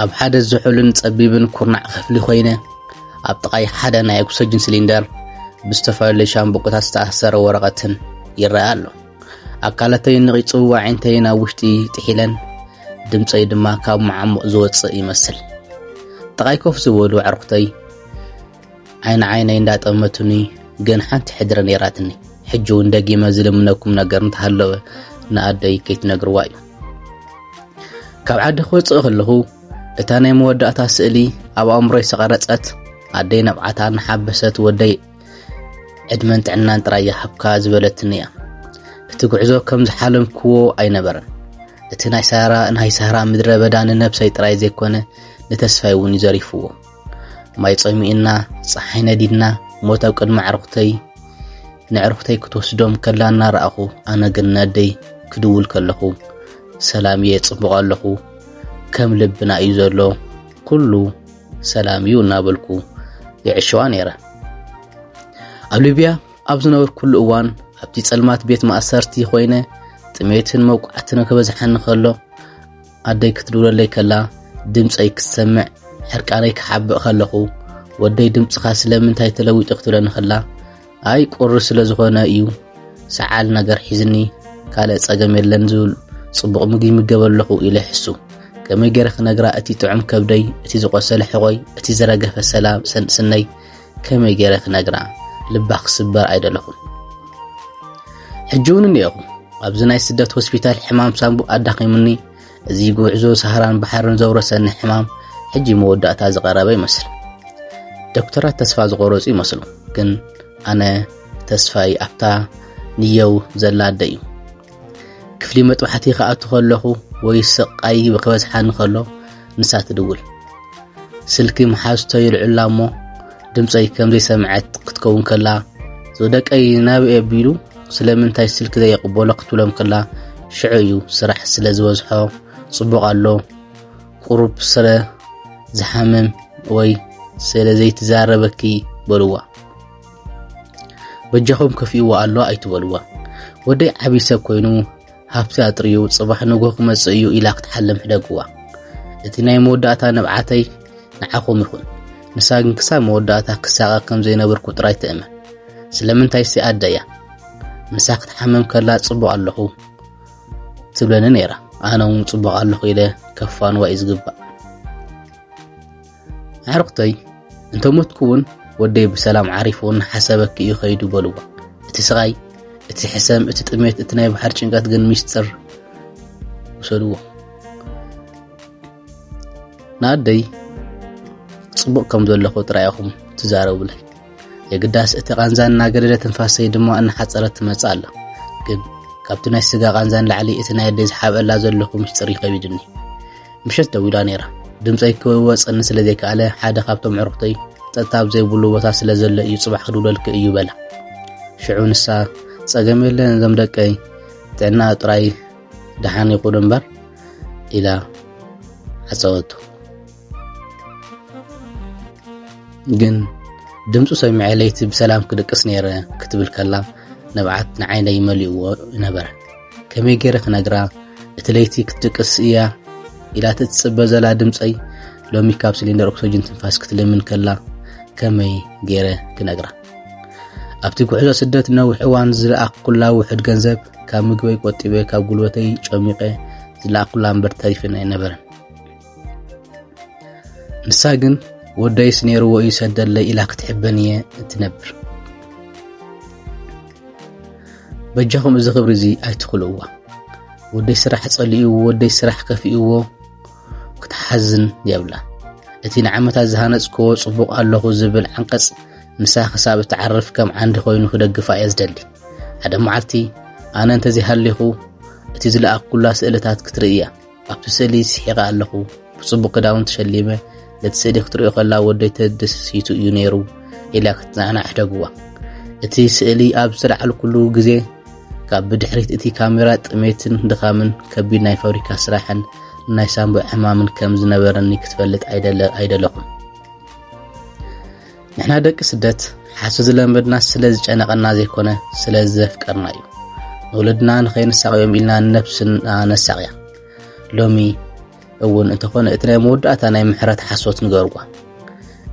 ኣብ ሓደ ዝሑልን ጸቢብን ኩርናዕ ክፍሊ ኮይነ ኣብ ጥቓይ ሓደ ናይ ኦክሰጅን ሲሊንደር ብዝተፈላለዩ ሻምብቆታት ዝተኣሰረ ወረቐትን ይረኣ ኣሎ። ኣካላተይ ንቒጹ ዋዒንተይ ናብ ውሽጢ ጥሒለን ድምፀይ ድማ ካብ መዓሙቕ ዝወፅእ ይመስል ጥቓይ ኮፍ ዝበሉ ኣዕርኹተይ ዓይኒ ዓይነይ እንዳጠመቱኒ ግን ሓንቲ ሕድሪ ነይራትኒ ሕጂ እውን ደጊመ ዝልምነኩም ነገር እንተሃለወ ንኣደይ ከይትነግርዋ እዩ ካብ ዓዲ ክወፅእ ከለኹ እታ ናይ መወዳእታ ስእሊ ኣብ ኣእምሮይ ዝተቐረፀት ኣደይ ነብዓታ እናሓበሰት ወደይ ዕድመን ጥዕናን ጥራይ ይሃብካ ዝበለትኒ እያ እቲ ጉዕዞ ከም ዝሓለምክዎ ኣይነበረን እቲ ናይ ሳራ ናይ ሳራ ምድረ በዳ ንነብሰይ ጥራይ ዘይኮነ ንተስፋይ እውን እዩ ዘሪፍዎ ማይ ጸሚእና ፀሓይ ነዲድና ሞት ኣብ ቅድሚ ኣዕርኹተይ ንዕርኹተይ ክትወስዶም ከላ እናረኣኹ ኣነ ግን ነደይ ክድውል ከለኹ ሰላም እየ ጽቡቕ ኣለኹ ከም ልብና እዩ ዘሎ ኩሉ ሰላም እዩ እናበልኩ ይዕሸዋ ነይረ ኣብ ሊብያ ኣብ ዝነበርኩሉ እዋን ኣብቲ ጸልማት ቤት ማእሰርቲ ኮይነ ጥሜትን መውቃዕትን ከበዝሓኒ ከሎ ኣደይ ክትድውለለይ ከላ ድምጸይ ክትሰምዕ ሕርቃነይ ክሓብእ ከለኹ ወደይ ድምጽኻ ስለምንታይ ተለዊጡ ክትብለኒ ከላ ኣይ ቁሪ ስለ ዝኾነ እዩ ሰዓል ነገር ሒዝኒ ካልእ ጸገም የለን ዝብል ጽቡቕ ምግቢ ይምገብ ኣለኹ ኢለ ይሕሱ ከመይ ገይረ ክነግራ እቲ ጥዑም ከብደይ እቲ ዝቖሰለ ሕቖይ እቲ ዝረገፈ ሰላም ሰንስነይ ከመይ ገይረ ክነግራ ልባ ክስበር ኣይደለኹን። ሕጂ እውን እኒኦኹ ኣብዚ ናይ ስደት ሆስፒታል ሕማም ሳንቡ ኣዳኺሙኒ እዚ ጉዕዞ ሳህራን ባሕርን ዘውረሰኒ ሕማም ሕጂ መወዳእታ ዝቐረበ ይመስል። ዶክተራት ተስፋ ዝቆረጹ ይመስሉ፣ ግን ኣነ ተስፋይ ኣብታ ንየው ዘላ ኣደ እዩ። ክፍሊ መጥባሕቲ ክኣቱ ከለኹ ወይ ስቓይ ክበዝሓኒ ከሎ ንሳ ትድውል። ስልኪ መሓዝቶ ይልዕላ እሞ ድምጸይ ከም ዘይሰምዐት ክትከውን ከላ ዝወደቀይ ናብይ ኣቢሉ ስለምንታይ ስልኪ ዘየቕበሎ ክትብሎም ከላ ሽዑ እዩ ስራሕ ስለ ዝበዝሖ ጽቡቕ ኣሎ ቁሩብ ስለ ዝሓምም ወይ ስለ ዘይትዛረበኪ በልዋ በጃኹም ከፊእዎ ኣሎ ኣይትበልዋ ወደይ ዓብዪ ሰብ ኮይኑ ሃብቲ ኣጥርዩ ጽባሕ ንግሆ ክመጽእ እዩ ኢላ ክትሓልም ሕደግዋ። እቲ ናይ መወዳእታ ንብዓተይ ንዓኹም ይኹን። ንሳ ግን ክሳብ መወዳእታ ክሳቐ ከም ዘይነበርኩ ጥራይ ትእመን። ስለምንታይሲ ኣደ እያ። ንሳ ክትሓምም ከላ ጽቡቕ ኣለኹ ትብለኒ ነይራ ኣነ እውን ጽቡቕ ኣለኹ ኢለ ከፋንዋ እዩ ዝግባእ ኣዕርኽተይ እንተ ሞትኩ እውን ወደይ ብሰላም ዓሪፉ እናሓሰበኪ እዩ ከይዱ በልዋ እቲ ስቓይ እቲ ሕሰም እቲ ጥሜት እቲ ናይ ባሕር ጭንቀት ግን ሚስጥር ውሰድዎ ንኣደይ ጽቡቕ ከም ዘለኹ ጥራይ ኢኹም ትዛረቡለይ የግዳስ እቲ ቃንዛ እናገደደ ትንፋሰይ ድማ እናሓፀረት ትመፅእ ኣላ ግን ካብቲ ናይ ስጋ ቃንዛ ንላዕሊ እቲ ናይ ኣደይ ዝሓብአላ ዘለኹ ምስጢር ይኸቢድኒ ምሸት ደዊላ ነይራ። ድምጸይ ክወጸኒ ስለ ዘይከኣለ ሓደ ካብቶም ዕሩኽተይ ጸጥታ ኣብ ዘይብሉ ቦታ ስለ ዘሎ እዩ ጽባሕ ክድውለልኪ እዩ በላ። ሽዑ ንሳ ጸገም የለን እዞም ደቀይ ጥዕና ጥራይ ደሓን ይኹኑ እምበር ኢላ ዓጸወቱ። ግን ድምፁ ሰሚዐ ለይቲ ብሰላም ክድቅስ ነይረ ክትብል ከላ ንብዓት ንዓይነይ መሊእዎ ነበረ። ከመይ ገይረ ክነግራ እቲ ለይቲ ክትድቅስ እያ ኢላት እትጽበ ዘላ ድምፀይ ሎሚ ካብ ሲሊንደር ኦክሲጅን ትንፋስ ክትልምን ከላ ከመይ ገይረ ክነግራ ኣብቲ ጉዕዞ ስደት ነዊሕ እዋን ዝለኣኽኩላ ውሕድ ገንዘብ ካብ ምግበይ ቆጢበ ካብ ጉልበተይ ጨሚቐ ዝለኣኽኩላ እምበር ተሪፍና ኣይነበረን ንሳ ግን ወደይስ ነይርዎ እዩ ሰደለይ ኢላ ክትሕበን እየ እትነብር በጃኹም እዚ ክብሪ እዚ ኣይትኽልእዋ ወደይ ስራሕ ጸሊእዎ ወደይ ስራሕ ከፊእዎ ክትሓዝን የብላ እቲ ንዓመታት ዝሃነጽክዎ ጽቡቕ ኣለኹ ዝብል ዓንቀጽ ንሳ ክሳብ እትዓርፍ ከም ዓንዲ ኮይኑ ክደግፋ እየ ዝደሊ ሓደ መዓልቲ ኣነ እንተዘይሃሊኹ እቲ ዝለኣኩላ ስእልታት ክትርእያ ኣብቲ ስእሊ ስሒቐ ኣለኹ። ብጽቡቕ ክዳውንቲ ሸሊመ፣ ነቲ ስእሊ ክትርእዮ ከላ ወደይ ተደስሲቱ እዩ ነይሩ ኢላ ክትጽናዕና ኣሕደግዋ። እቲ ስእሊ ኣብ ዝተላዕልኩሉ ግዜ ካብ ብድሕሪት እቲ ካሜራ ጥሜትን ድኻምን ከቢድ ናይ ፋብሪካ ስራሕን ናይ ሳንቡዕ ሕማምን ከም ዝነበረኒ ክትፈልጥ ኣይደለኹን። ንሕና ደቂ ስደት ሓሱ ዝለመድና ስለ ዝጨነቐና ዘይኮነ ስለ ዘፍቀርና እዩ ንወለድና ንኸይንሳቕዮም ኢልና ንነብስና ነሳቕያ ሎሚ እውን እንተኾነ እቲ ናይ መወዳእታ ናይ ምሕረት ሓሶት ንገርዋ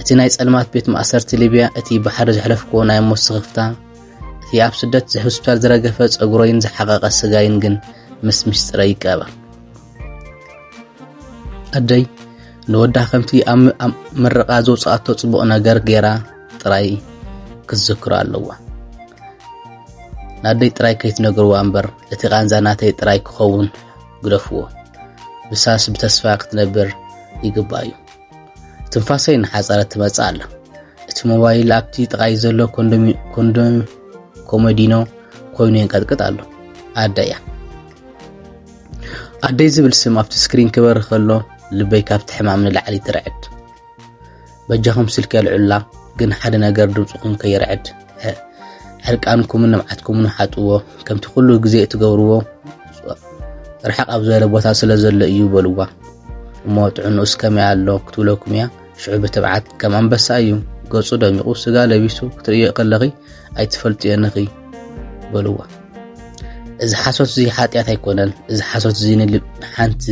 እቲ ናይ ጸልማት ቤት ማእሰርቲ ሊብያ እቲ ብሓደ ዘሕለፍክዎ ናይ ሞት ስኽፍታ እቲ ኣብ ስደት ሆስፒታል ዝረገፈ ጸጉሮይን ዝሓቐቐ ስጋይን ግን ምስ ምስጢረ ይቀበር ኣደይ ንወዳ ከምቲ ኣብ ምርቓ ዘውፅኣቶ ፅቡቕ ነገር ገይራ ጥራይ ክትዝክሮ ኣለዋ ንኣደይ ጥራይ ከይትነግርዋ እምበር እቲ ቃንዛ ናተይ ጥራይ ክኸውን ግደፍዎ ብሳስ ብተስፋ ክትነብር ይግባእ እዩ ትንፋሰይ ንሓፀረ ትመፅእ ኣላ እቲ ሞባይል ኣብቲ ጥቓይ ዘሎ ኮንዶም ኮሞዲኖ ኮይኑ የንቀጥቅጥ ኣሎ ኣደ እያ ኣደይ ዝብል ስም ኣብቲ ስክሪን ክበሪ ከሎ ልበይ ካብቲ ሕማም ንላዕሊ ትርዕድ በጃኹም ስልኪ ኣልዑላ ግን ሓደ ነገር ድምፅኹም ከይርዕድ ዕርቃንኩምን ንብዓትኩምን ሓጥዎ ከምቲ ኩሉ ግዜ እትገብርዎ ርሓቕ ኣብ ዝበለ ቦታ ስለ ዘሎ እዩ በልዋ እሞ ጥዕንኡስ ከመይ ኣሎ ክትብለኩም እያ ሽዑ ብትብዓት ከም ኣንበሳ እዩ ገጹ ደሚቑ ስጋ ለቢሱ ክትርእዮ ከለኺ ኣይትፈልጥዮን ኢኺ በልዋ እዚ ሓሶት እዚ ሓጢኣት ኣይኮነን እዚ ሓሶት እዚ ንልብ ሓንቲ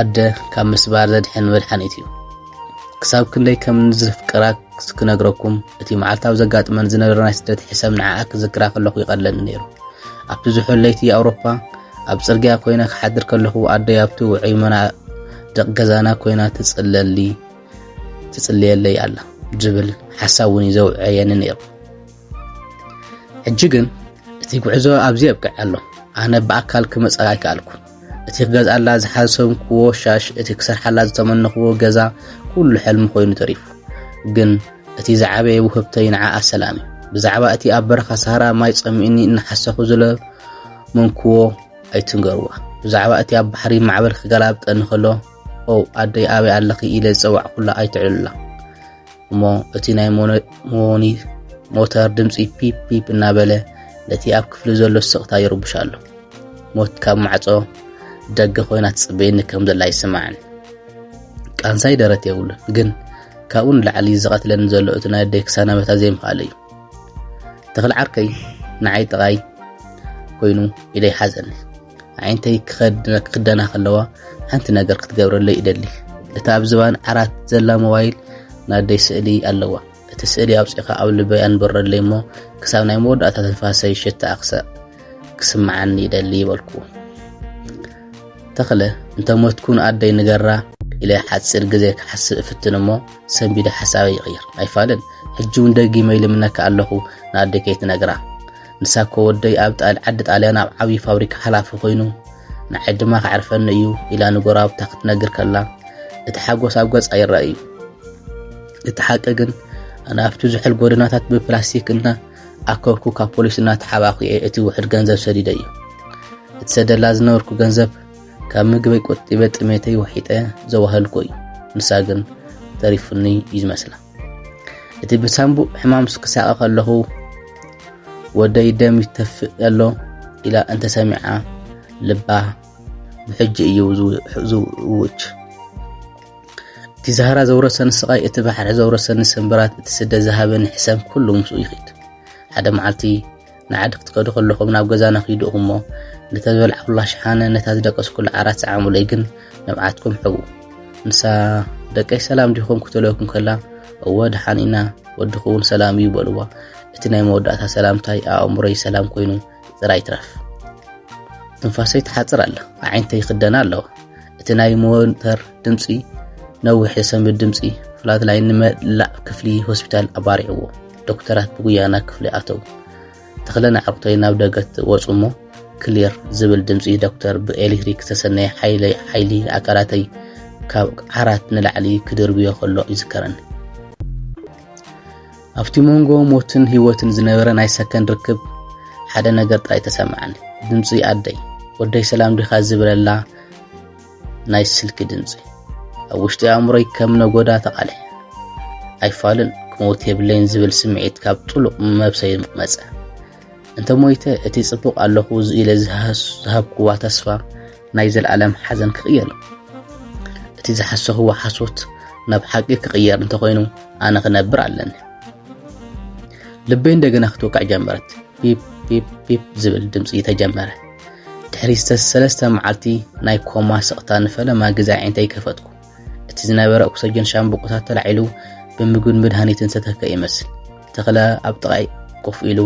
ኣደ ካብ ምስባር ዘድሕን መድሓኒት እዩ ክሳብ ክንደይ ከም ንዝፍቅራ ክነግረኩም እቲ መዓልታዊ ዘጋጥመን ዝነበረ ናይ ስደት ሕሰም ንዓኣ ክዝክራ ከለኹ ይቐለኒ ነይሩ ኣብቲ ዝሑል ለይቲ ኣውሮፓ ኣብ ፅርግያ ኮይነ ክሓድር ከለኹ ኣደይ ኣብቲ ውዑይ መናድቕ ገዛና ኮይና ትፅለሊ ትጽልየለይ ኣላ ዝብል ሓሳብ እውን እዩ ዘውዕየኒ ነይሩ ሕጂ ግን እቲ ጉዕዞ ኣብዚ የብቅዕ ኣሎ ኣነ ብኣካል ክመጽ ኣይከኣልኩ እቲ ክገዝኣላ ዝሓሰብክዎ ሻሽ እቲ ክሰርሓላ ዝተመነኽዎ ገዛ ኩሉ ሕልሚ ኮይኑ ተሪፉ ግን እቲ ዝዓበየ ውህብተይ ንዓ ኣሰላም እዩ ብዛዕባ እቲ ኣብ በረኻ ሳሃራ ማይ ጸሚእኒ እናሓሰኹ ዝለመንክዎ ኣይትንገርዋ ብዛዕባ እቲ ኣብ ባሕሪ ማዕበል ክገላብጠኒ ከሎ ኦው ኣደይ ኣበይ ኣለኺ ኢለ ዝጸዋዕኩላ ኣይትዕልሉላ እሞ እቲ ናይ ሞኒ ሞተር ድምፂ ፒፕ ፒፕ እናበለ ነቲ ኣብ ክፍሊ ዘሎ ስቕታ ይርብሽ ኣሎ ሞት ካብ ማዕፆ ደገ ኮይና ትፅበየኒ ከም ዘላ ይስማዕን ቃንሳይ ደረት የብሉን ግን ካብኡ ንላዕሊ ዝቐትለኒ ዘሎ እቲ ናይ ኣደይ ክሳናበታ ዘይምኽኣለ እዩ ተኽሊ ዓርከይ ንዓይ ጥቓይ ኮይኑ ኢደይ ሓዘኒ ኣዒንተይ ክኽደና ከለዋ ሓንቲ ነገር ክትገብረለይ እደሊ እታ ኣብ ዝባን ዓራት ዘላ ሞባይል ናደይ ስእሊ ኣለዋ እቲ ስእሊ ኣውፂኻ ኣብ ልበይ ኣንበረለይ እሞ ክሳብ ናይ መወዳእታ ትንፋሰይ ሽታ ኣክሰእ ክስምዓኒ ይደሊ ይበልኩ ተኽለ እንተ ሞትኩ ንኣደይ ንገራ ኢለ ሓፂር ግዜ ክሓስብ እፍትን እሞ ሰንቢደ ሓሳበይ ይቕይር ኣይፋልን ሕጂ እውን ደጊመ ይልምነካ ኣለኹ ንኣደይ ከይትነግራ ንሳኮ ወደይ ኣብ ጣል ዓዲ ጣልያን ኣብ ዓብዪ ፋብሪካ ሓላፊ ኮይኑ ንዓይ ድማ ከዕርፈኒ እዩ ኢላ ንጎረባብታ ክትነግር ከላ እቲ ሓጎስ ኣብ ገጻ ይረኣ እዩ። እቲ ሓቂ ግን ኣነ ኣብቲ ዝሑል ጎደናታት ብፕላስቲክ እና ኣከብኩ ካብ ፖሊስ እናተሓባኹ እየ እቲ ውሕድ ገንዘብ ሰዲደ እዩ። እቲ ሰደላ ዝነበርኩ ገንዘብ ካብ ምግበይ ቆጢበ ጥሜተይ ወሒጠ ዘዋህልኩ እዩ። ንሳ ግን ተሪፉኒ እዩ ዝመስላ። እቲ ብሳንቡእ ሕማምስ ክሳቐ ከለኹ ወደይ ደም ይተፍእ ኣሎ ኢላ እንተሰሚዓ ልባ ብሕጂ እዩ ዝውች እቲ ዛህራ ዘውረሰኒ ስቓይ እቲ ባሕሪ ዘውረሰኒ ስምብራት እቲ ስደ ዝሃበኒ ሕሰም ኩሉ ምስኡ ይኽድ ሓደ መዓልቲ ንዓዲ ክትከዱ ከለኹም ናብ ገዛና ኺዱ እሞ ነታ ዝበልዓኹላ ሸሓነ ነታ ዝደቀስኩላ ዓራት ሰዓሙለይ ግን ንብዓትኩም ሕቡ ንሳ ደቀይ ሰላም ዲኹም ክትለኩም ከላ እወ ድሓን ኢና ወድኹ እውን ሰላም እዩ በልዋ እቲ ናይ መወዳእታ ሰላምታይ ኣእምሮይ ሰላም ኮይኑ ጥራይ ትረፍ ትንፋሰይ ትሓፅር ኣላ ኣዒንተይ ይኽደና ኣለዋ እቲ ናይ ሞተር ድምፂ ነዊሕ ዝሰምድ ድምፂ ፍላት ላይ ንመላእ ክፍሊ ሆስፒታል ኣባሪዕዎ ዶክተራት ብጉያ ናብ ክፍሊ ኣተው። ተኽለ ንዓቕቶይ ናብ ደገ ወጹ እሞ ክሊር ዝብል ድምጺ ዶክተር ብኤሌክትሪክ ዝተሰነየ ሓይሊ ሓይሊ ኣካላተይ ካብ ዓራት ንላዕሊ ክድርብዮ ከሎ ይዝከረኒ። ኣብቲ መንጎ ሞትን ህይወትን ዝነበረ ናይ ሰከንድ ርክብ ሓደ ነገር ጥራይ ተሰማዕኒ፣ ድምጺ ኣደይ ወደይ ሰላም ዲኻ ዝብለላ ናይ ስልኪ ድምፂ ኣብ ውሽጢ ኣእምሮይ ከም ነጎዳ ተቓልሐ። ኣይፋልን ክመውት የብለይን ዝብል ስምዒት ካብ ጥሉቕ መብሰይ መፀ። እንተ ሞይተ እቲ ፅቡቕ ኣለኹ ኢለ ዝሃብክዋ ተስፋ ናይ ዘለኣለም ሓዘን ክቕየር እቲ ዝሓሰኽዎ ሓሶት ናብ ሓቂ ክቕየር እንተኾይኑ ኣነ ክነብር ኣለኒ። ልበይ እንደገና ክትወቅዕ ጀመረት። ፒፕ ፒፕ ፒፕ ዝብል ድምፂ ተጀመረ። ድሕሪ ሰለስተ መዓልቲ ናይ ኮማ ስቕታ ንፈለማ ግዜ ኣዒንተይ ከፈትኩ። እቲ ዝነበረ ኦክሰጅን ሻምብቆታት ተላዒሉ ብምግብን መድሃኒትን ዝተተከ ይመስል። ተኽለ ኣብ ጥቓይ ኮፍ ኢሉ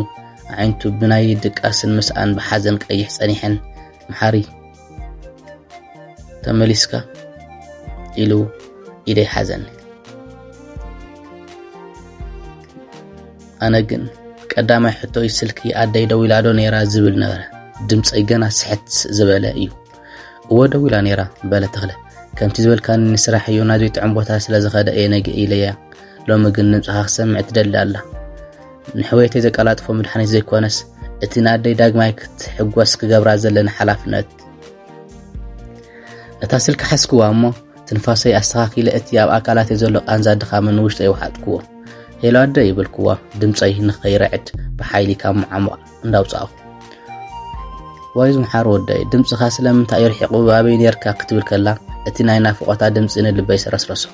ኣዒንቱ ብናይ ድቃስን ምስኣን ብሓዘን ቀይሕ ጸኒሐን መሓሪ ተመሊስካ ኢሉ ኢደይ ሓዘኒ ኣነ ግን ቀዳማይ ሕቶይ ስልኪ ኣደይ ደው ኢላ ዶ ነይራ ዝብል ነበረ ድምፀይ ገና ስሕት ዝበለ እዩ እወ ደው ኢላ ነይራ በለ ተኽለ ከምቲ ዝበልካኒ ንስራሕ እዩ ናብ ዘይጥዕም ቦታ ስለ ዝኸደ እየ ነግ ኢለያ ሎሚ ግን ድምፅኻ ክሰምዕ ትደሊ ኣላ ንሕወየተይ ዘቀላጥፎ መድሓኒት ዘይኮነስ እቲ ንኣደይ ዳግማይ ክትሕጎስ ክገብራ ዘለኒ ሓላፍነት ነታ ስልኪ ሓስክዋ እሞ ትንፋሰይ ኣስተኻኺለ እቲ ኣብ ኣካላተይ ዘሎ ቃንዛ ድኻምን ንውሽጠይ ውሓጥክዎ ሄሎ ኣደ ይብልክዎ ድምፀይ ንኸይርዕድ ብሓይሊ ካብ መዓሙቕ እንዳውፃእኹ ዋይ ዝምሓር ወደይ ድምፅኻ ስለምንታይ እዩ ርሒቑ ኣበይ ነርካ ክትብል ከላ እቲ ናይ ናፍቖታ ድምፂ ንልበይ ሰረስረሶ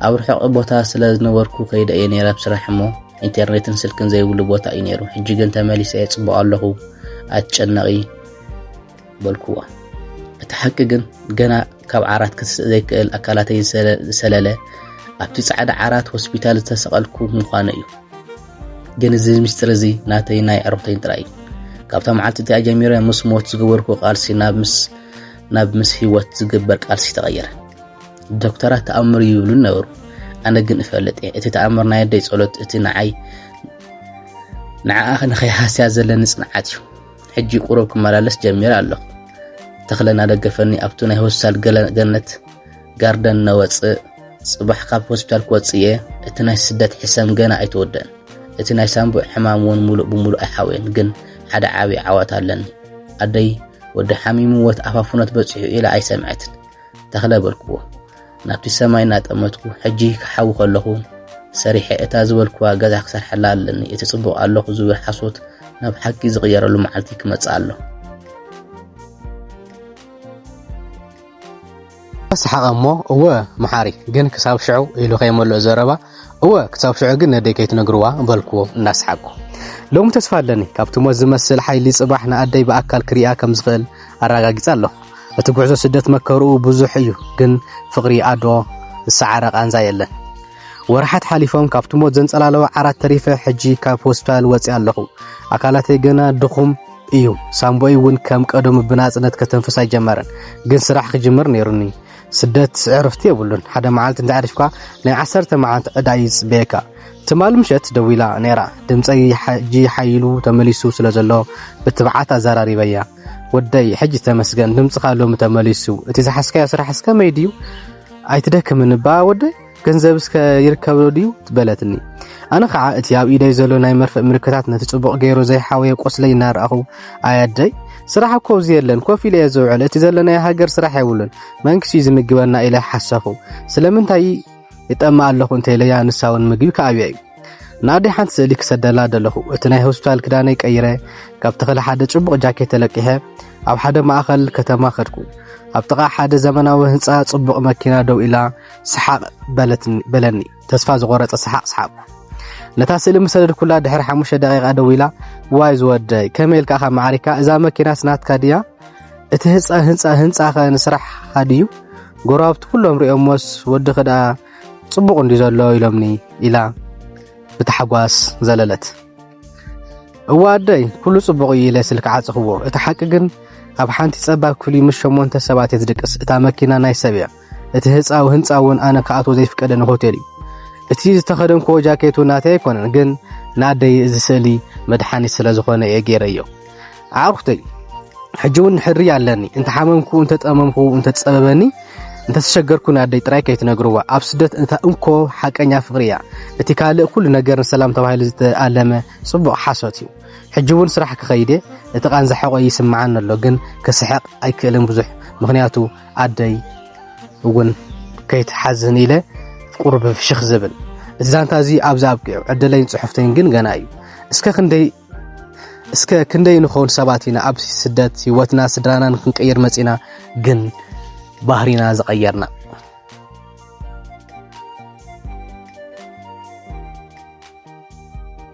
ኣብ ርሑቕ ቦታ ስለ ዝነበርኩ ከይደ እየ ነይረ ኣብ ስራሕ እሞ ኢንተርኔትን ስልክን ዘይብሉ ቦታ እዩ ነይሩ ሕጂ ግን ተመሊሰ እየ ፅቡቕ ኣለኹ ኣትጨነቒ በልኩዋ። እቲ ሓቂ ግን ገና ካብ ዓራት ክትስእ ዘይክእል ኣካላተይ ዝሰለለ ኣብቲ ጻዕዳ ዓራት ሆስፒታል ዝተሰቐልኩ ምዃነ እዩ። ግን እዚ ምስጢር እዚ ናተይ ናይ ዕርኽተይን ጥራይ እዩ ካብታ መዓልቲ እቲኣ ጀሚረ ምስ ሞት ዝገበርኩ ቃልሲ ናብ ምስ ናብ ምስ ህይወት ዝግበር ቃልሲ ተቐየረ ዶክተራት ተኣምር እዩ ይብሉ ነበሩ ኣነ ግን እፈልጥ እየ እቲ ተኣምር ናይ ኣደይ ጸሎት እቲ ንዓይ ንዓኣ ንኸይሃስያ ዘለኒ ጽንዓት እዩ ሕጂ ቁሩብ ክመላለስ ጀሚረ ኣለኹ። ተኽለ እናደገፈኒ ኣብቱ ናይ ሆስፒታል ገነት ጋርደን ነወጽእ። ጽባሕ ካብ ሆስፒታል ክወጽእ እየ። እቲ ናይ ስደት ሕሰም ገና ኣይተወደን። እቲ ናይ ሳንቡዕ ሕማም እውን ሙሉእ ብሙሉእ ኣይሓወየን ግን ሓደ ዓብዪ ዓወት ኣለኒ ኣደይ ወዲ ሓሚምዎት ኣፋፍኖት በፂሑ ኢላ ኣይሰምዐትን ተኽለ በልክዎ ናብቲ ሰማይ እናጠመትኩ ሕጂ ክሓዊ ከለኹ ሰሪሐ እታ ዝበልኩዋ ገዛ ክሰርሐላ ኣለኒ እቲ ጽቡቕ ኣለኹ ዝብል ሓሶት ናብ ሓቂ ዝቕየረሉ መዓልቲ ክመጽእ ኣሎ ሰሓቐ እሞ እወ መሓሪ ግን ክሳብ ሽዑ ኢሉ ከይመልኦ ዘረባ እወ ክሳብ ሽዑ ግን ነደይ ከይትነግርዋ በልክዎ እናሰሓቅኩ። ሎሚ ተስፋ ኣለኒ፣ ካብቲ ሞት ዝመስል ሓይሊ ጽባሕ ንኣደይ ብኣካል ክርእያ ከም ዝኽእል ኣረጋጊጸ ኣለኹ። እቲ ጉዕዞ ስደት መከርኡ ብዙሕ እዩ፣ ግን ፍቕሪ ኣዶ ዝሰዓረ ቃንዛ የለን። ወርሓት ሓሊፎም ካብቲ ሞት ዘንጸላለወ ዓራት ተሪፈ ሕጂ ካብ ሆስፒታል ወጺኣ ኣለኹ። ኣካላተይ ገና ድኹም እዩ፣ ሳምቦይ እውን ከም ቀደሙ ብናጽነት ከተንፍስ ኣይጀመረን፣ ግን ስራሕ ክጅምር ነይሩኒ። ስደት ዕርፍቲ የብሉን ሓደ መዓልቲ እንተ ዕሪፍካ ናይ ዓሰርተ መዓልቲ ዕዳ እዩ ዝጽበየካ ትማል ምሸት ደዊላ ነይራ ድምፀይ ሕጂ ሓይሉ ተመሊሱ ስለ ዘሎ ብትብዓት ኣዘራሪበያ ወደይ ሕጂ ተመስገን ድምፅኻ ሎሚ ተመሊሱ እቲ ዝሓስካዮ ስራሕ እስከ መይ ድዩ ኣይትደክምን እባ ወደይ ገንዘብ እስከ ይርከብዶ ድዩ በለትኒ ኣነ ከዓ እቲ ኣብ ኢደይ ዘሎ ናይ መርፍእ ምልክታት ነቲ ጽቡቕ ገይሩ ዘይሓወየ ቆስለይ እናረኣኹ ኣያደይ ስራሕ እኮ እዚ የለን ኮፍ ኢለ እየ ዝውዕል እቲ ዘለናዮ ሃገር ስራሕ የብሉን መንግስቲ እዩ ዝምግበና ኢለ ሓሰኹ ስለምንታይ ይጠማ ኣለኹ እንተኢለያ ንሳ እውን ምግቢ ከኣብያ እዩ ንኣደይ ሓንቲ ስእሊ ክሰደላ ደለኹ እቲ ናይ ሆስፒታል ክዳነይ ቀይረ ካብ ተኽሊ ሓደ ጽቡቕ ጃኬት ተለቂሐ ኣብ ሓደ ማእኸል ከተማ ከድኩ ኣብ ጥቓ ሓደ ዘመናዊ ህንፃ ጽቡቕ መኪና ደው ኢላ ስሓቕ በለትኒ በለኒ ተስፋ ዝቖረጸ ስሓቕ ስሓቕኩ። ነታ ስእሊ ምስ ሰደድኩላ ድሕሪ ሓሙሽተ ደቂቓ ደዊላ ዋይ ዝወደይ ከመይ ኢልካ ኢኻ ማዕሪካ እዛ መኪናስ ናትካ ድያ እቲ ህንፃ ህንፃ ህንፃኸ ንስራሕኻ ድዩ ጎረባብቲ ኩሎም ሪኦሞስ ወድኺ ደኣ ጽቡቕ እንዲ ዘሎ ኢሎምኒ ኢላ ብታሕጓስ ዘለለት እዋ ኣደይ ኩሉ ጽቡቕ እዩ ኢለ ስልኪ ዓጽኽዎ እቲ ሓቂ ግን ኣብ ሓንቲ ጸባብ ክፍሊ ምስ ሸሞንተ ሰባት እየ ዝድቅስ እታ መኪና ናይ ሰብ እያ እቲ ህጻዊ ህንጻ እውን ኣነ ክኣትዎ ዘይፍቀደኒ ሆቴል እዩ። እቲ ዝተኸደንክዎ ጃኬቱ ናተይ ኣይኮነን፣ ግን ንኣደይ እዚ ስእሊ መድሓኒት ስለ ዝኾነ እየ ገይረዮ። ኣዕሩኽተይ ሕጂ እውን ሕሪ ኣለኒ፣ እንተሓመምኩ፣ እንተጠመምኩ፣ እንተትጸበበኒ፣ እንተተሸገርኩ ንኣደይ ጥራይ ከይትነግርዋ። ኣብ ስደት እታ እንኮ ሓቀኛ ፍቕሪ እያ። እቲ ካልእ ኩሉ ነገር ንሰላም ተባሂሉ ዝተኣለመ ጽቡቕ ሓሶት እዩ። ሕጂ እውን ስራሕ ክኸይድ እቲ ቃንዛ ሕቖይ ይስምዓኒ ኣሎ፣ ግን ክስሕቕ ኣይክእልን ብዙሕ ምክንያቱ ኣደይ እውን ከይትሓዝን ኢለ ቁሩብ ፍሽኽ ዝብል እዚ ዛንታ እዚ ኣብዚ ኣብቂዑ ዕድለይን ፅሑፍተይን ግን ገና እዩ እስከ ክንደይ እስከ ክንደይ ንኸውን ሰባት ኢና ኣብ ስደት ህይወትና ስድራናን ክንቀይር መፂና ግን ባህሪና ዝቐየርና